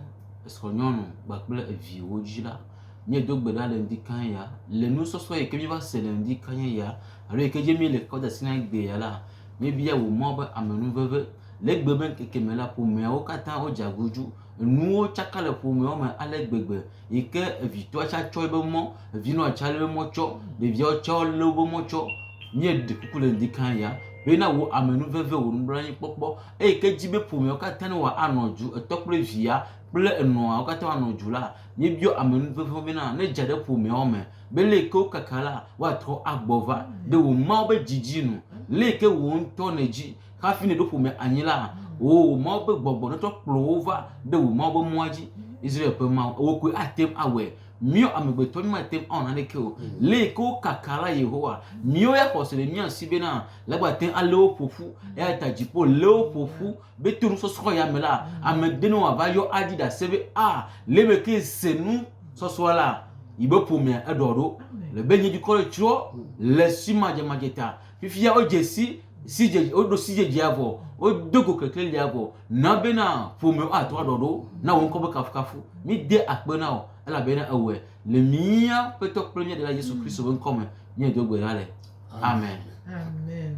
esrɔ̃nyɔnu kpakple eviwo dzi la, míedo gbe ɖa le ŋdi kae ya? Le nusɔsrɔ̃ yi ke míeva se le ŋdi kae ya alo yi ke dzi míele kpɔ ɖe asi na egbea ya la, míebia wò Mawu be amenuveve. Le egbe me ŋkeke me la, ƒomeawo katã wodze aguzu. Enuwo tsaka le ƒomeawo me ale gbegbe. yi ke evitɔa tsɛ tsɔ eƒe mɔ, vinɔa tsɛ lé mɔ tsɔ, ɖeviawo tsɛ lé woƒe mɔ tsɔ. Míeɖe kuku le ŋdi kãa ya be na wò amenuveve, wò nublanuikpɔkpɔ eyi ke edzi be ƒomeawo katã ne woanɔ du, etɔ kple via kple enɔa wo katã woanɔ du la, míebiɔ amenuveve wo bena ne edze ɖe ƒomeawo me be le yi ke wokaka la, woatrɔ agbɔ va ɖe wò Mawu ƒe didi nu le yi ke wò ŋutɔ nèdi. Hafi nèɖo ƒome anyi la, wò Mawu ƒe gbɔgbɔ netsɔ kplɔ wò va ɖe wò Mawu ƒe mɔa dzi. Israel ƒe Mawu, wò koe ate ŋu awɔe. Míawo amegbetɔ mímate ŋu awɔ naneke o. Lé yi ke wokaka la, Yehowa. Míwo ya xɔse le mía si bena legba ate ŋu alé wo ƒo ƒu. Eya ta dziƒo lé wo ƒo ƒu be to nusɔsrɔ̃ ya me la, ame ɖe nɔ wòava yɔ aɖi ɖase be, A, le me ke se nusɔsrɔ̃ la, yi be ƒomea eɖɔ ɖo. Le be nye dukɔ le tsrɔ̃ le si madzemadzeta. Fifia wodze si sidzedze woɖo sidzedzea vɔ, wodo go keklelia vɔ. Na bena ƒome woatrɔ aɖɔ ɖo na wò ŋkɔ be kafukafu. Míde akpe na wò elabena èwɔe le mía Aƒetɔ kple mía Ɖela Yesu Kristo ƒe ŋkɔ me míedo gbe ɖa le. Amen. Amen.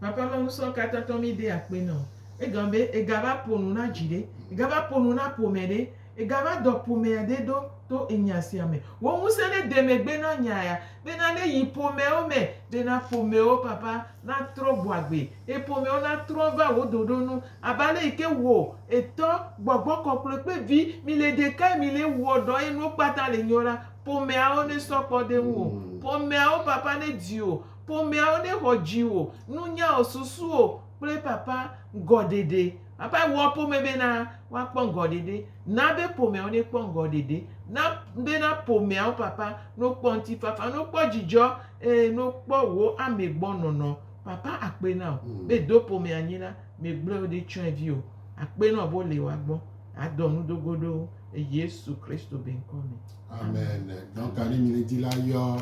Papa ma ŋusɔ katatɔ mi de akpe nɔ. Egɔme be egava ƒo nu na dzi ɖe. Egava ƒo nu na ƒome ɖe. Egava dɔ ƒomea aɖe ɖo to enya sia me. Wò ŋusẽ ɖe de megbe na nya ya bena ne yi ƒomeawo me bena ƒomeawo papa natrɔ gbɔ agbe eye ƒomeawo natrɔ va wò ɖoɖo nu abe ale yi ke wò, Etɔ, Gbɔgbɔ Kɔkɔe kple Vi mile ɖekae mile wɔ dɔ eye nuwo kpata le nyo la, ƒomeawo nesɔ kpɔ ɖe ŋuwò. Ƒomeawo papa nedi wò. Ƒomeawo nexɔ dziwò, nunyawò, susuwò kple papa ŋgɔɖeɖe Ava wɔ ƒome bena woakpɔ ŋgɔɖeɖe. Na be ƒomeawo nekpɔ ŋgɔɖeɖe. Na bena ƒomeawo, Papa, nokpɔ ŋutifafa, nokpɔ dzidzɔ, eye nokpɔ wò ame gbɔ nɔnɔ. Papa, akpe na wò be do ƒome anyi la, megblɔe wo ɖe tsyɔ̃evi o. Akpe na wò be wole wòa gbɔ. Adɔ nu do go ɖe wo le Yesu Kristo be ŋkɔ me. Amen. Donc à ne mine di la yɔ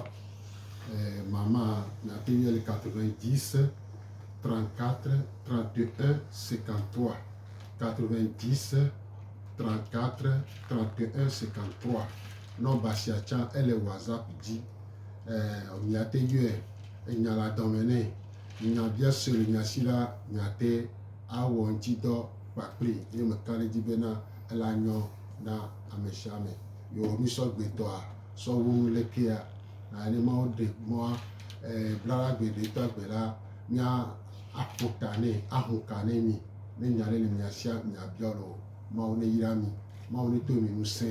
eh, maman na te yɔ le 90 se. 34 31 53 90 34 31 53 nɔmba sia tsã ele whatsapp dzi eh, miate yɔe enya la dɔme nɛ nya bia sue le nya si la miate awɔ ŋuti dɔ kpakple ye meka ɖe dzi bena ela nyɔ na ame sia ame yewɔ nusɔgbetɔa sɔwonu lekea Anye Mawu ɖe mɔa eh, blala gbe ɖe tɔ agbe la, mia aƒo ta nɛ, aho ka nɛ mi, ne nya ɖe le mia sia mia biɔ le o, Mawu ne yra mi, Mawu ne to mi ŋusẽ.